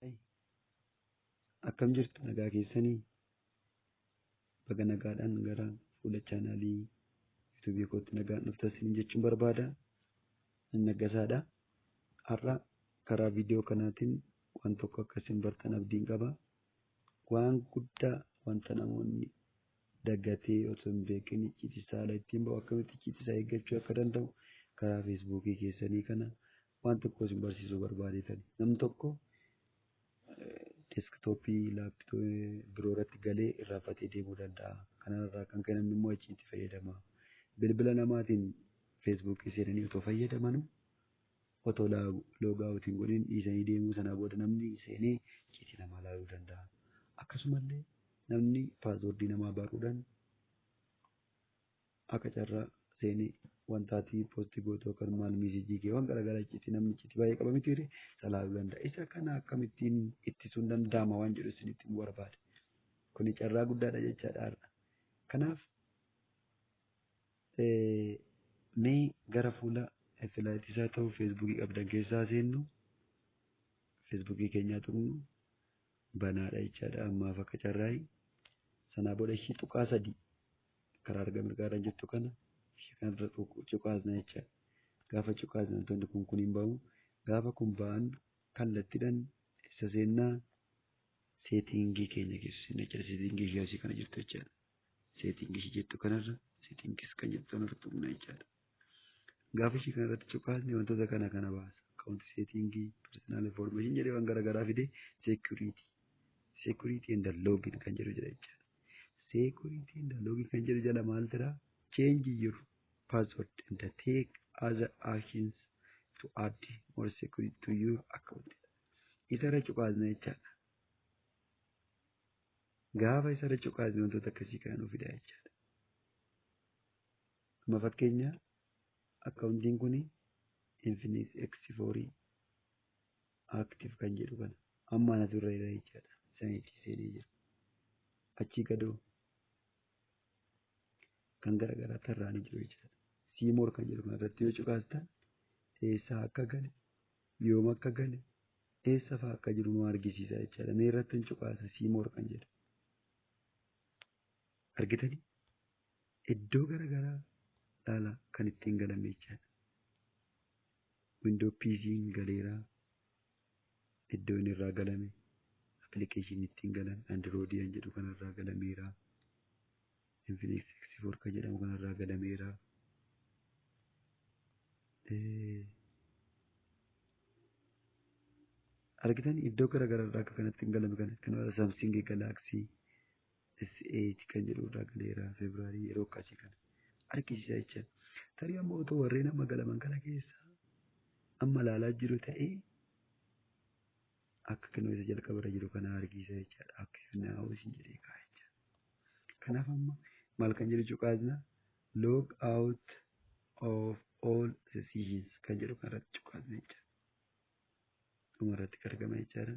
Ay, akkam jirtu nagaa keessanii baga nagaadhaan gara fuula chaanaalii yuutuubii kootti nagaan dhuftan isin jechuun barbaada. Ani Naggasaadha. Har'a karaa viidiyoo kanaatiin waan tokko akka isin bartan abdiin qaba. Waan guddaa wanta namoonni dagatee otoo hin beekin icciitii saala ittiin ba'u akkamitti icciitii isaa eeggachuu akka danda'u karaa feesbuukii keessanii kana waan tokko isin barsiisuu barbaadeetani. Namni tokko deeskitooppii laappitooppii biroo irratti galee irraanfatee deemuu danda'a. Kanarraa kan ka'e namni immoo icciitii fayyadama. Bilbila namaatiin feesbuukii seenanii otoo fayyadamanuu Otoo log out hin godhin dhiisanii deemuu sanaa booda namni seenee icciitii namaa laaluu danda'a. Akkasumallee namni password namaa barruudhan akka carraa seenee wanta ati post gootu yookaan maal message kee waan garaagaraa icciitii namni icciitii baay'ee qaba miti ree isa laaluu danda'a. Isa kana akkamittiin ittisuun danda'ama waan jedhu isinitti himuu barbaade. Kuni carraa guddaadha jechaadha har'a. Kanaaf Mee gara fuula silaa ittisaa ta'uu feesbuukii qabdan keessa haa seennu. Feesbuukii keenyaa tuqnu banaadha jechaadha ammaaf akka carraayi. Sanaa booda ishii tuqaa sadii karaa arga mirgaarra jirtu kana ishii kanarra cuqaasna jechaadha. Gaafa cuqaasne wantoonni kun kun hin ba'u. Gaafa kun ba'an kallattiidhaan isa seennaa seetiingii keenya keessa seenna jechaadha. Seetiingii ishii asii kana jirtu jechaadha. setting ishii jettu kanarra settings kan jettu kanarra tuqna jechaadha. Gaafa ishii kanarratti cuqaasne wantoota kana kana baasa. Account setting, personal information jedhee waan garaagaraa fidee security. Security and login kan jedhu jira jechaadha. Security and login kan jedhu jala maal jira? Change your password and take other actions to add more security to your account. Isarra cuqaasna jechaadha. Gaafa isa irra cuqaasne wantoota akkasii kana nu fidaa jechaadha. Amma fakkeenya akkaawuntiin kun Infinix X4 Active kan jedhu kana amma anatu irra jira jechaadha. Isaan itti seenee jira. Achii gadoo kan garaagaraa tarraanii jiru jechaadha. Siimoor kan jedhu kana irratti yoo cuqaastan eessaa akka gale Yoom akka gale, eessa faa akka jiru nu argisiisa jechaadha. Mee irrattan cuqaasa see more kan jedhu. Argitanii? Iddoo gara garaa laalaa kan ittiin galame jechaadha. Windoo PC'n galeera. Iddoo inni irraa galame. Appilikeeshinii ittiin galan Andirooyidii kan jedhu kanarraa galameera. Infinix X4 kan jedhamu kanarraa galameera. Argitan iddoo gara garaarraa akka kanatti hin galame kana kanarra Samsung Galaxy S8 kan jedhurraa galeera Febraarii yeroo akkasii kana argisiisa jecha. Tarii amma otoo warreen amma galaman kana keessaa amma ilaalaa jiru ta'ee akka kennu isa jalqaba irra jiru kana argisiisa jechaadha. Akka kennaa'u isin jedhee kaa'a jechaadha. Kanaaf amma maal kan jedhu cuqaasna log out of all sessions kan jedhu kan irratti cuqaasna jechaadha. Dhuma irratti argama jechaadha.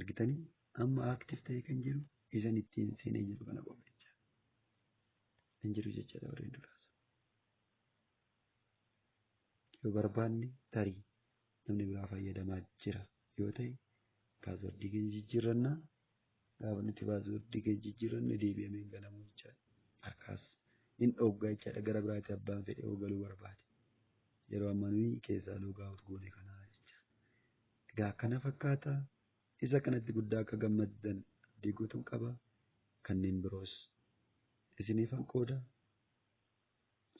argitanii amma active ta'ee kan jiru isan ittiin seenee jiru kana qofa jecha hin jiru jecha dabareen duraas yoo barbaanne tarii namni biraa fayyadamaa jira yoo ta'e paaswordii keenya jijjiirrannaa Gaafa nuti paaswordii keenya jijjiiranne deebi'amee hin ganamu jechaadha. Harkaas hin dhoogga jechaadha. Gara biraatti abbaan fedhe yoo galuu barbaade. Yeroo amma nuyi keessaa loogaawut goone kana jecha. Egaa akkana fakkaata. Isa kanatti guddaa akka gammaddan abdii guutuun qaba. Kanneen biroos isiniifan qooda.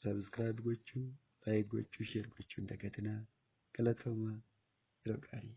Sabiskiraayib gochuu, laayik gochuu, sheer gochuu hin dagatinaa. Galatoomaa yeroo gaarii.